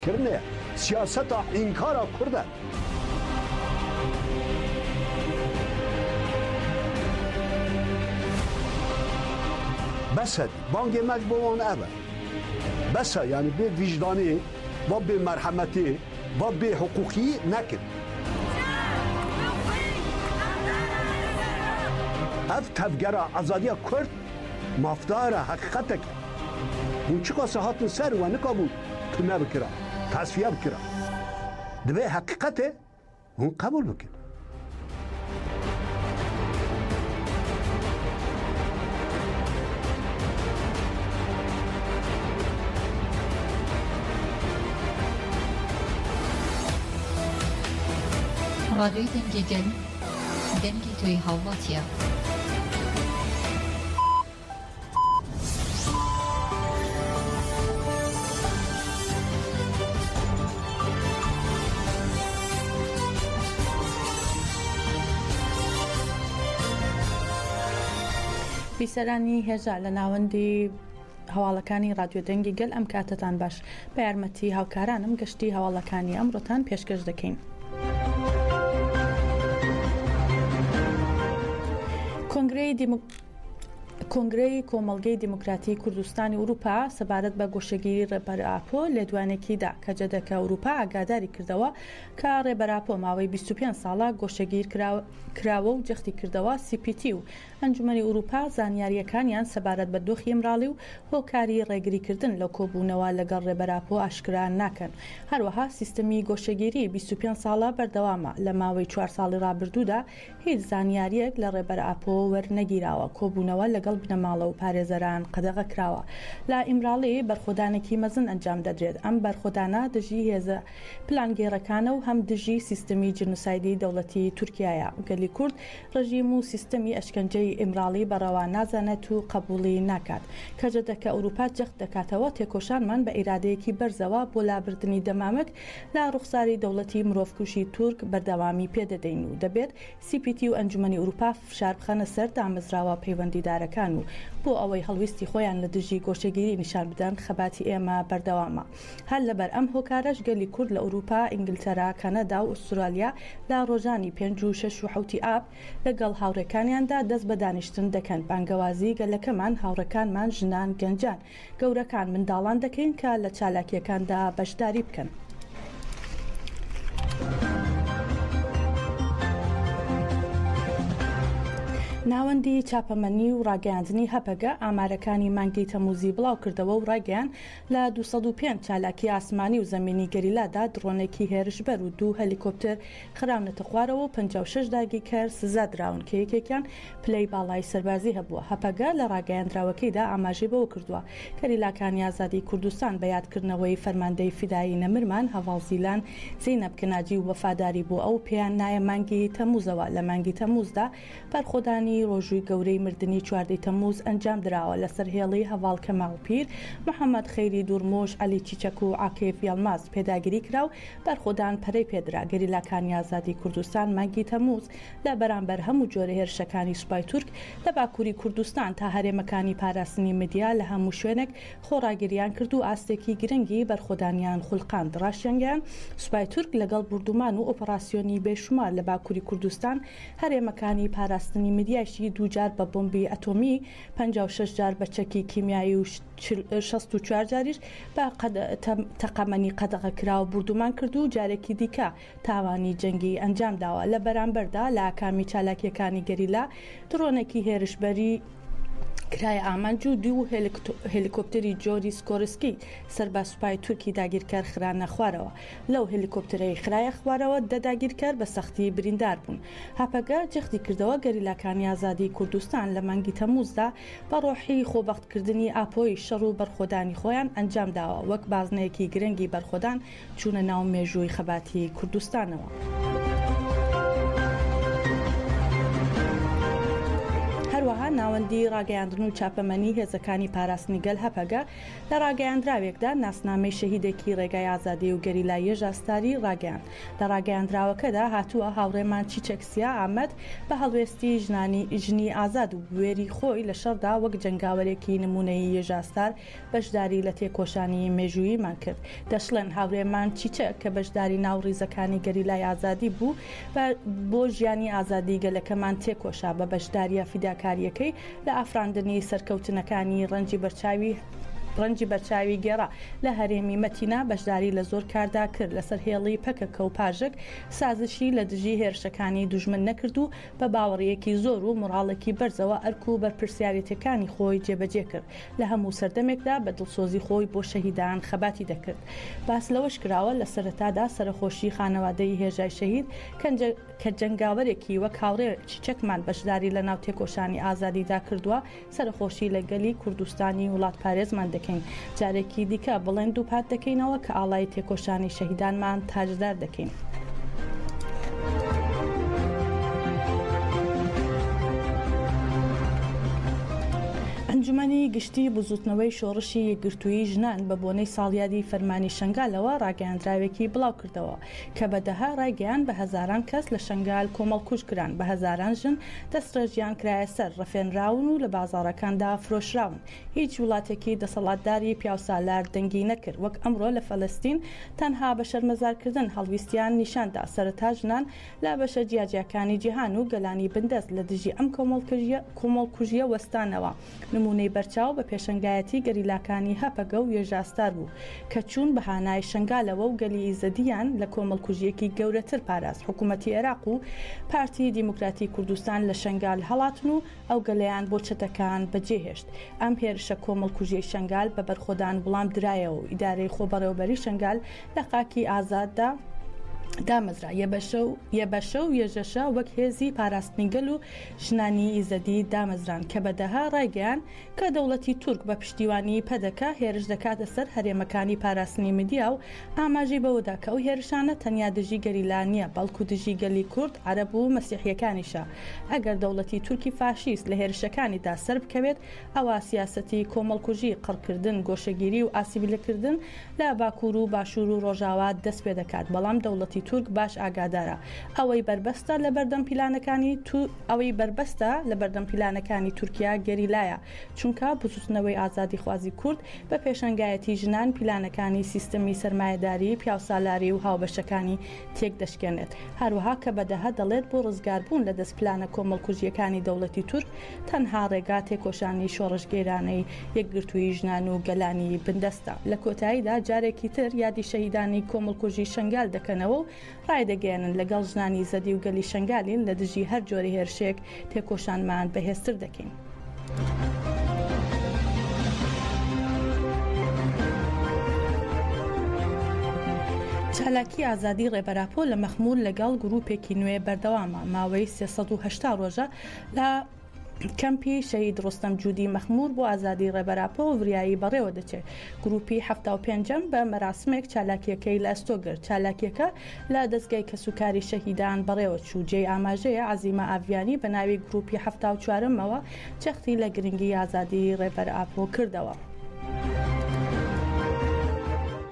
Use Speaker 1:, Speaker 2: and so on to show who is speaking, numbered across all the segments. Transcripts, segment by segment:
Speaker 1: کردنێ سیاسەتا ئینکارا کوردە. بەسە بانگێ مەک بۆ وان ئەڤە بەسە یانی بێ ویژدانێ با بێ مەرحەمەتێ با بێ حقوقی نەکرد ئەڤ تەڤگەرا ئازادیا کورد مافدارە هەقیقەتەکە هون چ کاسە هاتن سەر وە نکا بوو تونا بکرا تاسفیا بکرا دبێ هەقیقەتێ هون قبول بکن ڕادیۆی دەنگی
Speaker 2: گەل دەنگی تۆی هاوڵاتیە.
Speaker 3: بیسەرانی هێژا لە ناوەندی هەواڵەکانی رادیۆ دەنگی گەل ئەم کاتتان باش بە یارمەتی هاوکارانم گەشتی هەواڵەکانی ئەمڕۆتان پێشکەش دەکەین. کۆنگری دیموکراسی کۆنگرەی کۆمەڵگەی دیموکراتی کوردستانی ئورووپا سەبارەت بە گۆشەگیری ڕێبەر ئاپۆ لێدوانێکی دا کە جەدەکە ئورووپا ئاگاداری کردەوە کە ڕێبەر ئاپۆ ماوەی بیست و پێنج ساڵە گۆشەگیر کراوە و جەختی کردەوە سی پی تی و ئەنجومەنی ئورووپا زانیارییەکانیان سەبارەت بە دۆخی ئیمراڵی و هۆکاری ڕێگری کردن لە کۆبوونەوە لەگەڵ ڕێبەر ئاپۆ ئاشکرا ناکەن هەروەها سیستمی گۆشەگیری بیست و پێنج ساڵە بەردەوامە لە ماوەی چوار ساڵی ڕابردوودا هیچ زانیارییەک لە ڕێبەر ئاپۆ وەرنەگیراوە، کۆبوونەوە لەگەڵ بنەماڵە و پارێزەران قەدەغە کراوە، لە ئیمراڵی بەرخۆدانێکی مەزن ئەنجام دەدرێت، ئەم بەرخۆدانە دژی هێزە پلانگێڕەکانە و هەم دژی سیستمی جنوسایدی دەوڵەتی تورکیایە، گەلی کورد ڕژیم و سیستمی ئەشکەنجەی ئیمراڵی بە ڕەوا نازانێت و قەبووڵی ناکات، کەجەدەکە ئەوروپا جەخت دەکاتەوە تێکۆشانمان بە ئیرادەیەکی بەرزەوە بۆ لابردنی دەمامک لە ڕوخساری دەوڵەتی مرۆڤکوژی تورک بەردەوامی پێ دەدەین و دەبێت سی پی تی و ئەنجومەنی ئوروپا فشار بخەنە سەر دامەزراوە پەیوەندیدارەکان و بۆ ئەوەی هەڵویستی خۆیان لە دژی گۆشەگیری نیشان بدەن خەباتی ئێمە بەردەوامە هەر لەبەر ئەم هۆکارەش گەلی کورد لە ئوروپا ئینگلتەرا کەنەدا و ئوسترالیا لە ڕۆژانی پێنج و شەش و حەوتی ئاب لەگەڵ هاوڕێکانیاندا دەست بە دانیشتن دەکەن بانگەوازی گەلەکەمان هاوڕێکانمان ژنان گەنجان گەورەکان منداڵان دەکەین کە لە چالاکییەکاندا بەشداری بکەن. ناوەندی چاپەمەنی و ڕاگەیاندنی هەپەگە ئامارەکانی مانگی تەموزی بڵاوکردەوە و ڕایگەیان لە 205 چالاکی ئاسمانی و زەمینی گەریلادا دڕۆنێکی هێرشبەر و دوو هەلیکۆپتر خراونەتە خوارەوە و پەنجا و شەش داگیرکەر سزا دراون کە یەکێکیان پلەی باڵای سەربازی هەبووە. هەپەگە لە راگەیاندراوەکەیدا ئاماژەی بەوە کردووە، گەریلاکانی ئازادیی کوردستان بە یادکردنەوەی فەرماندەی فیدایی نەمرمان هەڤاڵ زیلان زەینەب کە ناجی و وەفاداری بۆ ئەو پێیان نایە مانگی تەمووزەوە لە مانگی تەمووزدا بەرخۆدانی ڕۆژووی گەورەی مردنی چواردە ی تەمموز ئەنجام دراوە لەسەر هێڵی هەڤاڵ کەمال پیر محەمەد خەیری دوورموش عەلی چیچەک و عاکیف یەڵماز پێداگیری کرا و بەرخۆدان پەرەی پێدرا گەریلاکانی ئازادی کوردستان مانگی تەمموز لە بەرامبەر هەموو جۆرە هێرشەکانی سوپای تورک لە باکووری کوردستان تا هەرێمەکانی پاراستنی مدیا لە هەموو شوێنێک خۆڕاگرییان کرد و ئاستێکی گرنگی بەرخۆدانیان خولقاند ڕاشیانگەیاند سوپای تورک لەگەڵ بوردومان و ئۆپەڕاسیۆنی بێشومار لە باکووری کوردستان هەرێمەکانی پاراستنی مریایشی دوو جار بە بۆمبی ئەتۆمی، پەنجا و شەش جار بە چەکی کیمیایی و شەست و چوار جاریش بە تەقەمەنی قەدەغەکراو بوردومان کرد و جارێکی دیکە تاوانی جەنگی ئەنجامداوە، لە بەرامبەردا لە ئاکامی چالاکییەکانی گەریلا درۆنێکی هێرشبەری کرایە ئامانج و دوو هێلیکۆپتەری جۆری سکۆرسکی سەر بە سوپای تورکی داگیرکەر خرانە خوارەوە. لەو هێلیکۆپتەرەی خرایە خوارەوە دە داگیرکەر بە سەختی بریندار بوون. هەپەگە جەختی کردەوە گەریلاکانی ئازادیی کوردستان لە مانگی تەممووزدا بە ڕۆحی خۆبەختکردنی ئاپۆیی شەڕ و بەرخۆدانی خۆیان ئەنجام داوە وەک بازنەیەکی گرنگی بەرخۆدان چوونە ناو مێژووی خەباتی کوردستانەوە. هەروەها ناوەندی ڕاگەیاندن و چاپەمەنی هێزەکانی پاراستنی گەل هەپەگە لە ڕاگەیاندراوێکدا ناسنامەی شەهیدێکی ڕێگای ئازادی و گەریلا یەژا ستاری ڕاگەیاند. لە ڕاگەیاندراوەکەدا هاتووە، هاوڕێمان چیچەک سیا ئامەد بە هەڵوێستی ژنانی، ژنی ئازاد و بوێری خۆی لە شەڕدا وەک جەنگاوەرێکی نموونەیی یەژا ستار بەشداری لە تێکۆشانی مێژووییمان کرد. دەشڵێن، هاورێمان چیچەک کە بەشداری ناو ڕیزەکانی گەریلای ئازادی بوو، بۆ ژیانی ئازادی گەلەکەمان تێکۆشا، بە بەشدارییە فیداکارییەکەی، لە ئافراندنی سەرکەوتنەکانی ڕەنجی بەرچاوی ڕەنجی بەرچاوی گێڕا لە هەرێمی مەتینا بەشداری لە زۆر کاردا کرد لەسەر هێڵی پەکەکە و پاژک سازشی لە دژی هێرشەکانی دوژمن نەکرد و بە باوەڕیەکی زۆر و موڕاڵێکی بەرزەوە ئەرک و بەرپرسیارێتیەکانی خۆی جێبەجێ کرد لە هەموو سەردەمێکدا بە دڵسۆزی خۆی بۆ شەهیدان خەباتی دەکرد باس لەوەش کراوە لە سەرەتادا سەرەخۆشی خانەوادەی هێژای شەهید کەنجە کە جەنگاوەرێکی وەک هاوڕێ چیچەکمان بەشداری لە ناو تێکۆشانی ئازادیدا کردووە، سەرەخۆشی لە گەلی کوردستانی وڵاتپارێزمان دەکەین. جارێکی دیکە بڵێن دووپات دەکەینەوە کە ئاڵای تێکۆشانی شەهیدانمان تاجدار دەکەین. ئەنجومەنی گشتیی بزووتنەوەی شۆڕشی یەکگرتوویی ژنان بە بۆنەی ساڵیادی فەرمانی شەنگالەوە ڕاگەیاندراوێکی بڵاوکردەوە. کە بە دەها ڕایگەیاند بە هەزاران کەس لە شەنگال کۆمەڵکوژ کران، بە هەزاران ژن دەستڕێژیان کرایە سەر، ڕفێنراون و لە بازاڕەکاندا فرۆشراون. هیچ وڵاتێکی دەسەڵاتداری پیاوسالار دەنگی نەکرد، وەک ئەمڕۆ لە فەلەستین تەنها بە شەرمەزارکردن هەڵویستیان نیشان دا، سەرەتا ژنان لە بەشە جیاجیاکانی جیهان و گەلانی بندەست لە دژی ئەم کۆمەڵکوژییە وەستانەوە، نموونەی بەرچاو بە پێشەنگایەتی گەریلاکانی هەپەگە و یەژاستار بوو کە چوون بە هانای شەنگالەوە و گەلی ئیزەدییان لە کۆمەڵکوژییەکی گەورەتر پاراست حکوومەتی ئێراق و پارتیی دیموکراتی کوردستان لە شەنگال هەڵاتن و ئەو گەلەیان بۆ چەتەکان بەجێ هێشت ئەم هێرشە کۆمەڵکوژیەی شەنگال بە بەرخۆدان وڵام درایەوە و ئیدارەی خۆبەڕێوەبەری شەنگال لە خاکی ئازاددا دامەزرا یەبەشە و یەبەشە و یەژەشە وەک هێزی پاراستنی گەل و ژنانی یزدی دامەزران کە بە دەهە ڕایگەیاند کە دەوڵەتی تورک بە پشتیوانیی پەدەکە هێرش دەکاتە سەر هەرێمەکانی پاراستنی مدیا و ئاماژەی بەوەدا کە ئەو هێرشانە تەنیا دژی گەریلا نییە بەڵکو دژی گەلی کورد، عەرەب و مەسیحییەکانیشە. ئەگەر دەوڵەتی تورکی فاشیست لە هێرشەکانیدا سەربکەوێت ئەوا سیاسەتی کۆمەڵکوژی، قڕکردن، گۆشەگیری و ئاسیبلکردن لە باکوور و باشوور و ڕۆژاوا دەست پێ دەکات، بەڵام دەوڵەتی تورک باش ئاگادارە ئەوەی بەربەستە لە بەردەم پیلانەکانی ئەوەی بەربەستە لە بەردەم پیلانەکانی تورکیا گەریلایە، چونکە بزووتنەوەی ئازادیخوازی کورد بە پێشەنگایەتی ژنان پیلانەکانی سیستمی سەرمایەداری پیاوسالاری و هاوبەشەکانی تێک دەشکێنێت، هەروەها کەبەدەهە دەڵێت بۆ ڕزگاربوون لە دەست پلانە کۆمەڵکوژییەکانی دەوڵەتی تورک تەنها ڕێگا تێکۆشانی شۆڕشگێرانەی یەکگرتووی ژنان و گەلانی بندەستە. لە کۆتاییدا جارێکی تر یادی شەهیدانی کۆمەڵکوژی شەنگال دەکەنەوە و ڕایدەگەیەنن لەگەڵ ژنانی زەدی و گەلی شەنگالین لە دژی هەر جۆرە هێرشێک تێکۆشانمان بەهێزتر دەکەین. چالاکی ئازادی ڕێبەر ئاپۆ لە مەخمور لەگەڵ گرووپێکی نوێ بەردەوامە، ماوەی سێ سەد و هەشتا ڕۆژە لە کەمپی شەهید ڕۆستەم جودی مەخمور بۆ ئازادی ڕێبەر ئاپۆ و وریایی بەڕێوە دەچێت. گرووپی حەفتا و پێنجەم بە مەراسمێک چالاکییەکەی لە ئەستۆ گرت. چالاکییەکە لە دەزگای کەسوکاری شەهیدان بەڕێوە چوو. جێی ئاماژەیە عەزیمە ئاڤیانی بە ناوی گرووپی حەفتا و چوارەمەوە جەختی لە گرنگی ئازادی ڕێبەر ئاپۆ کردەوە.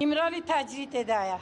Speaker 3: ئیمرالی
Speaker 4: تاجری تێدایە.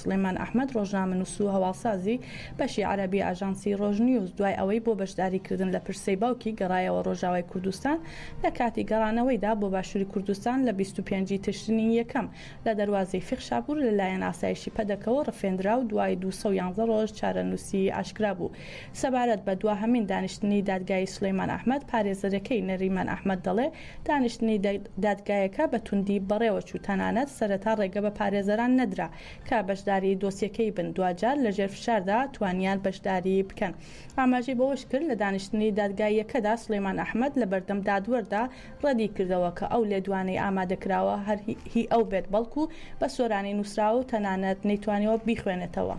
Speaker 3: سڵێمان ئەحمەد، ڕۆژنامەنووس و هەواڵسازی بەشی عەرەبی ئاژانسی ڕۆژنیوز، دوای ئەوەی بۆ بەشداریکردن لە پرسەی باوکی گەڕایەوە ڕۆژاوای کوردستان، لە کاتی گەڕانەوەیدا بۆ باشووری کوردستان لە بیست و پێنج ی تشرینی یەکەم لە دەروازەی فیخشاپوور لەلایەن ئاسایشی پەدەکەوە ڕفێندرا و دوای دوو سەد و یازدە ڕۆژ چارەنووسی ئاشکرا بوو. سەبارەت بە دواهەمین دانیشتنی دادگایی سڵێمان ئەحمەد، پارێزەرەکەی نەریمان ئەحمەد دەڵێ، دانیشتنی دادگایەکە بە توندی بەڕێوەچوو، تەنانەت سەرەتا ڕێگە بە پارێزەران نەدرا کە بەشداری دۆسیەکەی بن، دواجار لەژێر فشاردا توانیان بەشداری بکەن. ئاماژەی بەوەشکرد، لە دانیشتنی دادگاییەکەدا سولەیمان ئەحمەد لەبەردەم دادوەردا ڕەدیکردەوە کە ئەو لێدوانەی ئامادەکراوە هەر هی ئەو بێت بەڵکو بە سۆرانی نووسراوە و تەنانەت نەیتوانیوە بیخوێنێتەوە.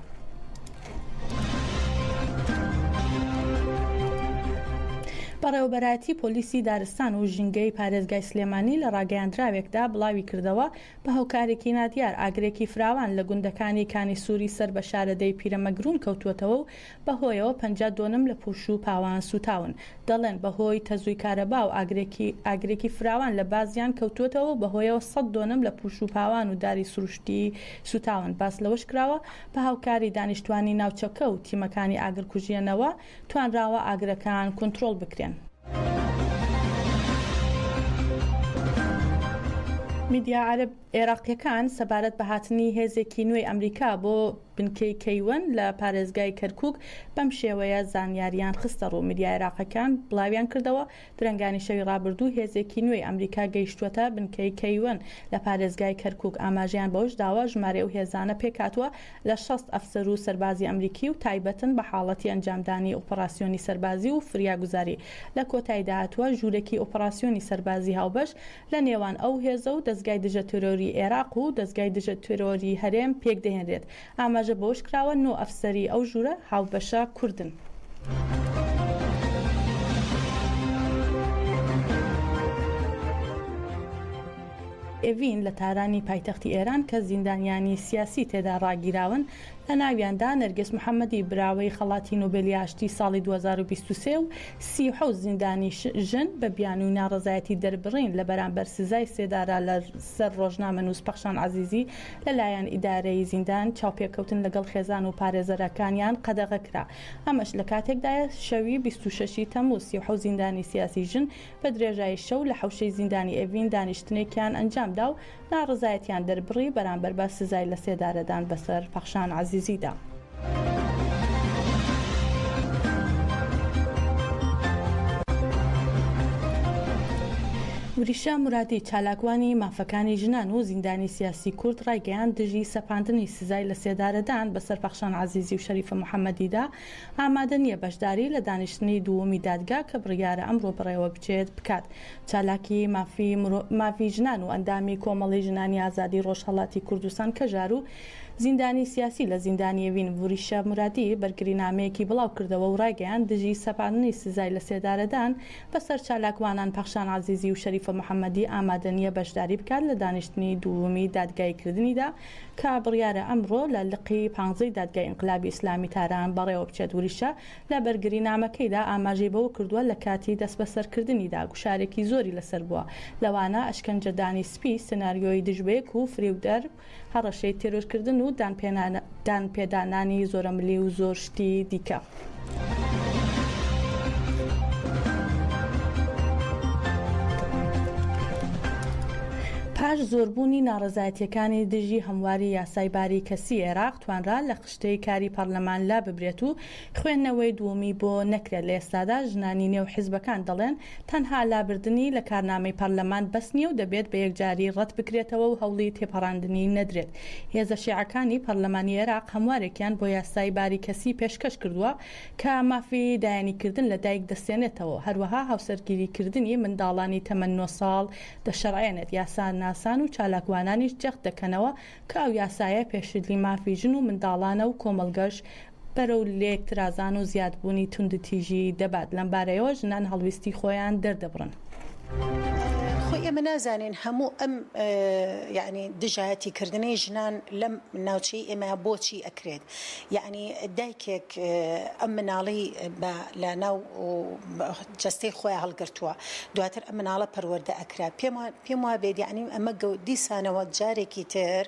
Speaker 3: بەڕێوەبەرایەتی پۆلیسی دارستان و ژینگەی پارێزگای سلێمانی لە ڕاگەیاندراوێکدا بڵاوی کردەوە بە هۆکارێکی نادیار ئاگرێکی فراوان لە گوندەکانی کانی سووری سەر بە شارەدێی پیرەمەگروون کەوتووەتەوە و بەهۆیەوە پەنجا دۆنم لە پوش و پاوان سووتاون. دەڵێن بەهۆی تەزووی کارەبا و ئاگرێکی ئاگرێکی فراوان لە بازیان کەوتووەتەوە و بەهۆیەوە سەد دۆنم لە پوش و پاوان و داری سروشتی سووتاون. باس لەوەشکراوە، بە هاوکاری دانیشتوانی ناوچەکە و تیمەکانی ئاگرکوژێنەوە توانراوە ئاگرەکان کونترۆڵ بکرێن. میدیا عەرەب. عێراقییەکان سەبارەت بە هاتنی هێزێکی نوێی ئەمریکا بۆ بنکەی کەیوەن لە پارێزگای کەرکووک بەم شێوەیە زانیارییان خستەڕوو، میدیا عێراقییەکان بڵاویانکردەوە، درەنگانی شەوی ڕابردوو هێزێکی نوێی ئەمریکا گەیشتووەتە بنکەی کەیوەن لە پارێزگای کەرکووک، ئاماژەیان بەوەشداوە، ژمارەی ئەو هێزانە پێکهاتووە لە شەست ئەفسەر و سەربازی ئەمریکی و تایبەتن بە حاڵەتی ئەنجامدانی ئۆپەڕاسیۆنی سەربازی و فریاگوزاری، لە کۆتاییدا هاتووە، ژوورێکی ئۆپەڕاسیۆنی سەربازی هاوبەش لە نێوان ئەو هێزە و دەزگای دژە تێرۆری ئێراق و دەزگای دژە تێرۆری هەرێم پێک دەهێنرێت. ئاماژە بەوەش کراوە، نۆ ئەفسەری ئەو ژوورە هاوبەشە کوردن. ئێڤین لە تارانی پایتەختی ئێران کە زیندانیانی سیاسی تێدا ڕاگیراون، لە ناویاندا نەرگس محەمەدی براوەی خەڵاتی نۆبێلی ئاشتی ساڵی دوو هەزار و بیست و سێ و سی و حەوت زیندانی ژن بە بیانووی ناڕەزایەتی دەربڕین لە بەرامبەر سزای سێدارە لە سەر ڕۆژنامەنووس پەخشان عەزیزی لە لایەن ئیدارەی زیندان چاوپێکەوتن لەگەڵ خێزان و پارێزەرەکانیان قەدەغە کرا ئەمەش لە کاتێکدایە شەوی بیست و شەش ی تەمووز سی و حەوت زیندانی سیاسی ژن بە درێژایی شەو لە حەوشەی زیندانی ئێڤین دانیشتنێکیان ئەنجامدا و ناڕەزایەتیان دەربڕی بەرامبەر بە سزای لەسێدارەدان بەسەر پەخشان عەزیزیدا. وریشە مورادی، چالاکوانی مافەکانی ژنان و زیندانی سیاسی کورد ڕایگەیاند، دژی سەپاندنی سزای لەسێدارەدان بەسەر پەخشان عەزیزی و شەریفە محەممەدیدا، ئامادە نییە بەشداری لە دانیشتنی دووەمی دادگا کە بڕیارە ئەمڕۆ بەڕێوەبچێت، بکات. چالاکی مافی مرۆ مافی ژنان و ئەندامی کۆمەڵەی ژنانی ئازادی ڕۆژهەڵاتی کوردستان کەژار و زیندانی سیاسی لە زیندانی ئێوین وریشە مورادی بەرگرینامەیەکی بڵاو کردەوە و ڕایگەیاند دژی سەپاندنی سزای لە سێدارەدان بە سەر چالاکوانان پەخشان عەزیزی و شەریفە محەمەدی ئامادە نییە بەشداری بکات لە دانیشتنی دوومی دادگایی کردنیدا کە بڕیارە ئەمڕۆ لە لقی پانزەی دادگای ئینقلابی ئیسلامی تاران بەڕێوە بچێت وریشە لە بەرگرینامەکەیدا ئاماژەی بەوە کردووە، لە کاتی دەستبەسەرکردنیدا گوشارێکی زۆری لەسەر بووە، لەوانە ئەشکەنجەدانی سپی، سناریۆی دژبەیەک و فریودەر، هەڕەشەی تێرۆرکردن و دانپێدانانی زۆرەملی و زۆر شتی دیکە. پاش زۆربوونی ناڕەزایەتییەکانی دژی هەمواری یاسای باری کەسیی عێراق، توانرا لە خشتەی کاری پەرلەمان لاببرێت و خوێندنەوەی دوومی بۆ نەکرێت، لە ئێستادا ژنانی نێو حزبەکان دەڵێن، تەنها لابردنی لە کارنامەی پەرلەمان بەس نییە و دەبێت بە یەکجاری ڕەت بکرێتەوە و هەوڵی تێپەڕاندنی نەدرێت، هێزە شیعەکانی پەرلەمانی عێراق هەموارێکیان بۆ یاسای باری کەسی پێشکەش کردووە کە مافی دایەنیکردن لە دایک دەستێنێتەوە و هەروەها هاوسەرگیریکردنی منداڵانی تەمەن نۆ ساڵ دەشەرعێنێت، یاساناسان و چالاکوانانیش جەخت دەکەنەوە کە ئەو یاسایە پێشلی مافی ژن و منداڵانە و کۆمەڵگەش بەرەو لێک ترازان و زیاد بوونی توندوتیژی دەبات لەم بارەیەوە ژنان هەڵویستی خۆیان دەردەبڕن.
Speaker 5: خۆی ئێمە نازانین هەموو ئەم یانی دژایەتی کردنەی ژنان لەم ناوچەی ئێمە بۆچی ئەکرێت یانی دایکێک ئەم مناڵی بە لە ناو جەستەی خۆیان هەڵگرتووە دواتر ئەم مناڵە پەروەردە ئەکرا پێم وابێت یەعنی ئەمە دیسانەوە جارێکی تر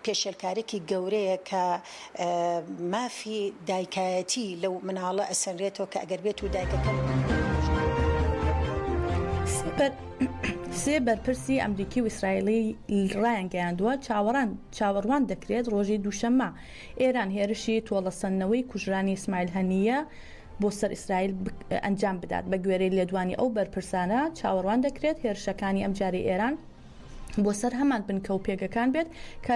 Speaker 5: پێشێلکارێکی گەورەیە کە مافی دایکایەتی لەو مناڵە ئەسەنرێتەوە کە ئەگەر بێت و دایکەکە
Speaker 3: سێ بەرپرسی ئەمریکی و ئیسرائیلی ڕایانگەیاندووە چاوەڕان چاوەڕوان دەکرێت ڕۆژی دووشەممە ئێران هێرشی تۆڵەسەندنەوەی کوژرانی ئیسماعیل هەنییە بۆ سەر ئیسرائیل ئەنجام بدات بە گوێرەی لێدوانی ئەو بەرپرسانە چاوەڕوان دەکرێت هێرشەکانی ئەم جاری ئێران بۆ سەر هەمان بنکە و پێگەکان بێت کە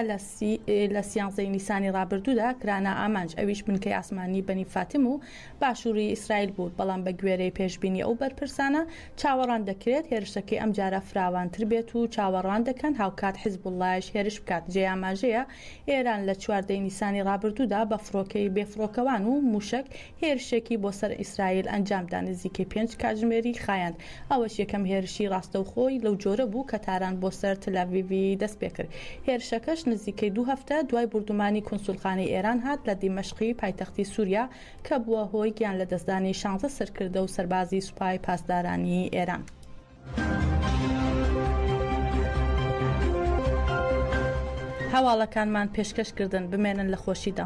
Speaker 3: لە سیانزەی نیسانی رابرردوودا کرانا ئامانج ئەویش بنکەی ئاسمانی بەنی فاتم و باشووری ئیسرائیل بوو بەڵام بە گوێرەی پێشببینی ئەو بەرپرسانە چاوەڕان دەکرێت هێرشەکەی ئەم جارە فراوانتر بێت و چاوەڕان دەکەن هاوکات حزب اللهش هێرش بکات جێ ئاماژەیە ئێران لە چوار دەی نیسانی ڕابردوودا بە فڕۆکەی بێفڕۆکەوان و مووشەک هێرشێکی بۆ سەر ئیسرائیل ئەنجامدا نزیکەی پێنج کاتژمێری خایاند، ئەوەش یەکەم هێرشی ڕاستەوخۆی لەو جۆرە بوو کە تاران بۆ سەر تلئەڤیڤی دەستپێکرد، هێرشەکەش نزیکەی دوو هەفتە دوای بوردومانی کونسولخانەی ئێران هات لە دیمەشقی پایتەختی سوریا کە بووە هۆی گیانلەدەستدانی شانزە سەرکردە و سەربازی سوپای پاسدارانی ئێران. هەواڵەکانمان پێشکەش کردن بمێنن لە خۆشیدا.